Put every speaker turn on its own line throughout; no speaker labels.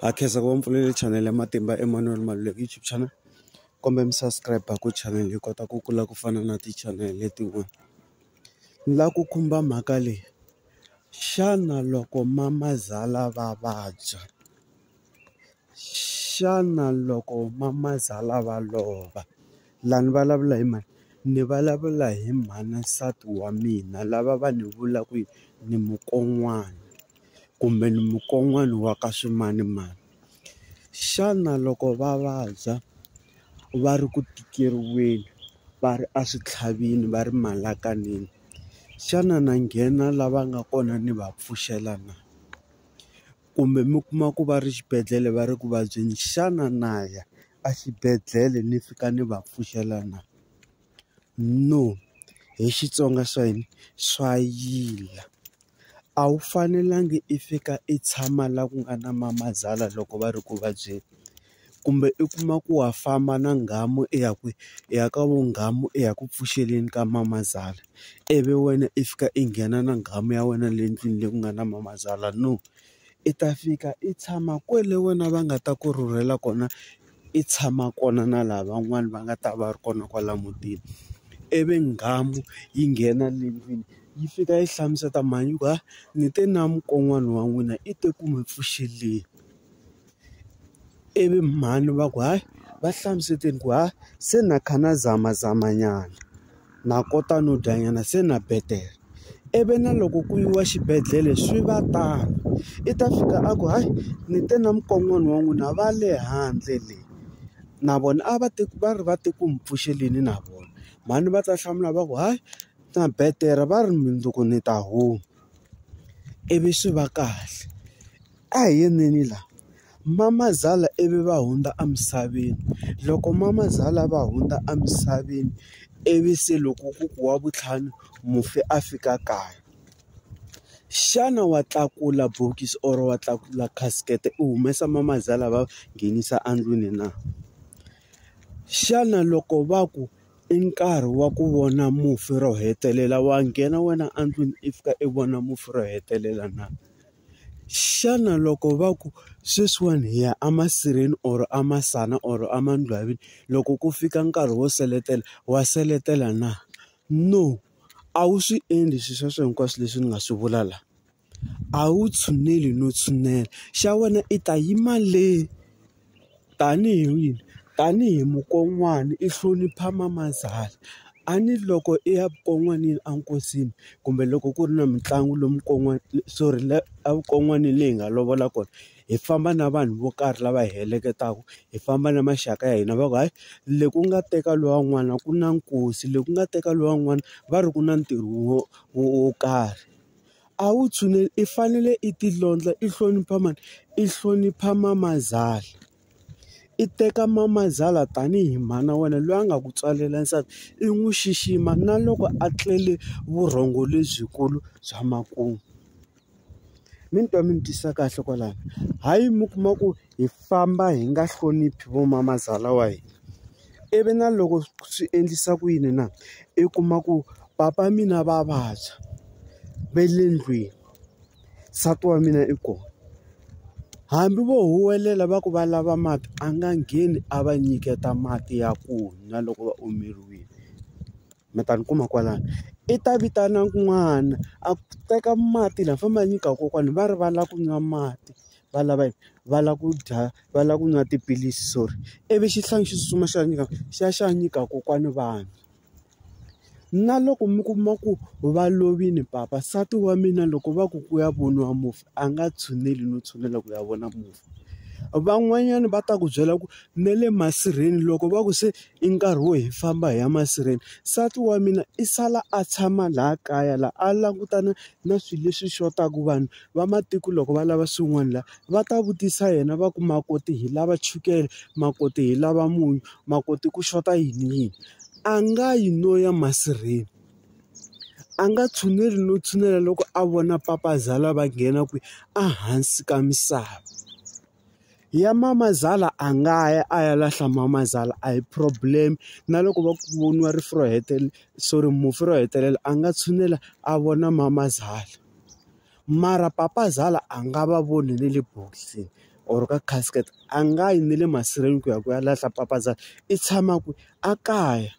Ha khensa ku va mi pfulele chanele ya Matimba Emmanuel Maluleke YouTube channel. Kumbe mi subscribe-a ku chanele yi kota ku kula ku fana na ti-channel letin'wana. Ni lava ku khumba mhaka leyi, xana loko mamazala va vabya, xana loko mamazala va lova, laha ni vulavula hi mani? Ni vulavula hi mhana nsati wa mina lava va ni vulaka ku ni mukon'wana. kumbe ni mukon'wana wa ka swimanimani. Xana loko va vabya va ri ku tikeriweni va ri eswitlhavini va ri malakanini, xana na nghena laha va nga kona ni va pfuxela na? Kumbe mi kuma ku va ri xibedhlele va ri ku vabyeni, xana na ya exibedhlele ni fika ni va pfuxela na? no hi Xitsonga xa hina swa yila a wu fanelangi i fika i tshama laha ku nga na mamazala loko va ri ku vabyeni kumbe i kuma ku wa famba na nghamu i ya kwihi i ya ka vunghamu i ya ku pfuxeleni ka mamazala ivi wena i fika i nghena na nghamu ya wena le ndlwini leyi ku nga na mamazala no i ta fika i tshama kwale wena va nga ta ku rhurhela kona. i tshama kona na laha van'wani va nga ta va ri kona kwala mutini ivi nghamu yi nghena le ndlwini yi fika yi hlamusela mhani ku ha ni te na mukon'wana wa n'wina i te ku mi pfuxeleni ivi mhani va ku hayi va hlamuseleni ku ha se na kha na zamazama nyana. Na kota no dya nyana se na betere ivi na loko ku yiwa xibedhlele swi va tano i ta fika a ku hayi ni te na mukon'wana wa n'wina va le handle le na vona a va ti va ri va ti ku mi pfuxeleni na vona mhani va ta hlamula va ku hayi na betere va ri mundzuku ni ta huma ivi swi va kahle. A hi yeneni la. Mamazala ivi va hundza emisaveni. Loko mamazala va hundza emisaveni, ivi se loko ku ku wa vuntlhanu mufi a fika kaya. Xana wa tlakula bokisi or wa tlakula casket-e u humesa mamazala va nghenisa endlwini na? Xana loko va ku i nkarhi wa ku vona mufi ro hetelela wa nghena wena endlwini i fika i vona mufi ro hetelela na? Xana loko va ku sweswiwani hi ya emasirheni or emasana or emandlwavini loko ku fika nkarhi wo seletela wa seletela na? No, a wu swi endli swilo sweswo hinkwaswo leswi ni nga swi vula la. A wu tshuneli no tshinela, xa wena i ta yima le. Tanihi wini, tanihi mukon'wana i hlonipha mamazala a ni loko i ya vukon'wanini a nkosini kumbe loko ku ri na mitlangu lomu kon'wana sorry la a vukon'wani leyi hi nga lovola kona hi famba na vanhu vo karhi lava hi heleketaku hi famba na maxaka ya hina va ku hayi le ku nga teka luwa n'wana ku na nkosi le ku nga teka luwa n'wana va ri ku na ntirho wo wo karhi. A wu tshuneli i fanele i titlondla i hlonipha mani i hlonipha mamazala i teka mamazala tanihi mhana wena loyi a nga ku tswalela nsati i n'wi xixima na loko a tlele vurhongo lebyikulu bya makumu mi ni twa mi ni twisa kahle kwalano hayi mi kuma ku. hi famba hi nga hloniphi vo mamazala wa hina ivi na loko swi endlisa ku yini na i kuma ku papa mina va vabya ve le ndlwini nsati wa mina i kona hambi vo huwelela va ku va lava mati a nga ngheni a va nyiketa mati ya ku nwa loko va omeriwile. mi ta ni kuma kwalano i ta vitana n'wana a teka mati la fanele a nyika kokwana va ri va lava ku nwa mati va lava yini va lava ku dya va lava ku nwa tiphilisi sorry ivi xihlangi xi tsutsuma xi ya nyika xi ya xi ya nyika kokwana va nwa na loko mi kuma ku va lovile papa nsati wa mina loko va ku ku ya voniwa mufi a nga tshuneli no tshunela ku ya vona mufi van'wanyana va ta ku byela ku na le masirheni loko va ku se I nkarhi wo hi famba hi ya masirheni nsati wa mina i sala a tshama laha kaya laha a langutana na swilo leswi xotaku vanhu va matiko loko va lava swin'wana laha va ta vutisa yena va ku makoti hi lava chukele makoti hi lava munyu makoti ku xota yini yini a nga yi no ya masirheni a nga tshuneli no tshinela loko a vona papa zala va nghena kwihi a hansi ka misava. ya mamazala a nga ya a ya lahla mamazala a hi problem na loko va ku voniwa rifu ro hetelela sorry mufi ro hetelela a nga tshinela a vona mamazala mara papazala a nga va voni na le bokisini or ka casket a nga yi na le masirheni ku ya ku ya lahla papazala i tshama kwihi a kaya.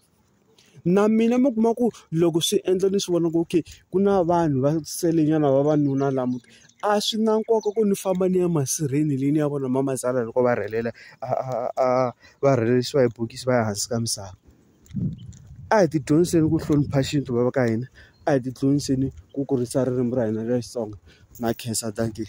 Na mina mi kuma ku loko swi endla ni swi vona ku okay ku na vanhu va selenyana vavanuna laha mutini, a swi na nkoka ku ni famba ni ya masirheni leyi ni ya vona mamazala loko va rhelela va rhelisiwa hi bokisi va ya hansi ka misava. A hi ti dyondziseni ku hlonipha xintu va va ka hina, a hi ti dyondziseni ku kurisa ririmi ra hina ra Xitsonga. Na khensa dankie.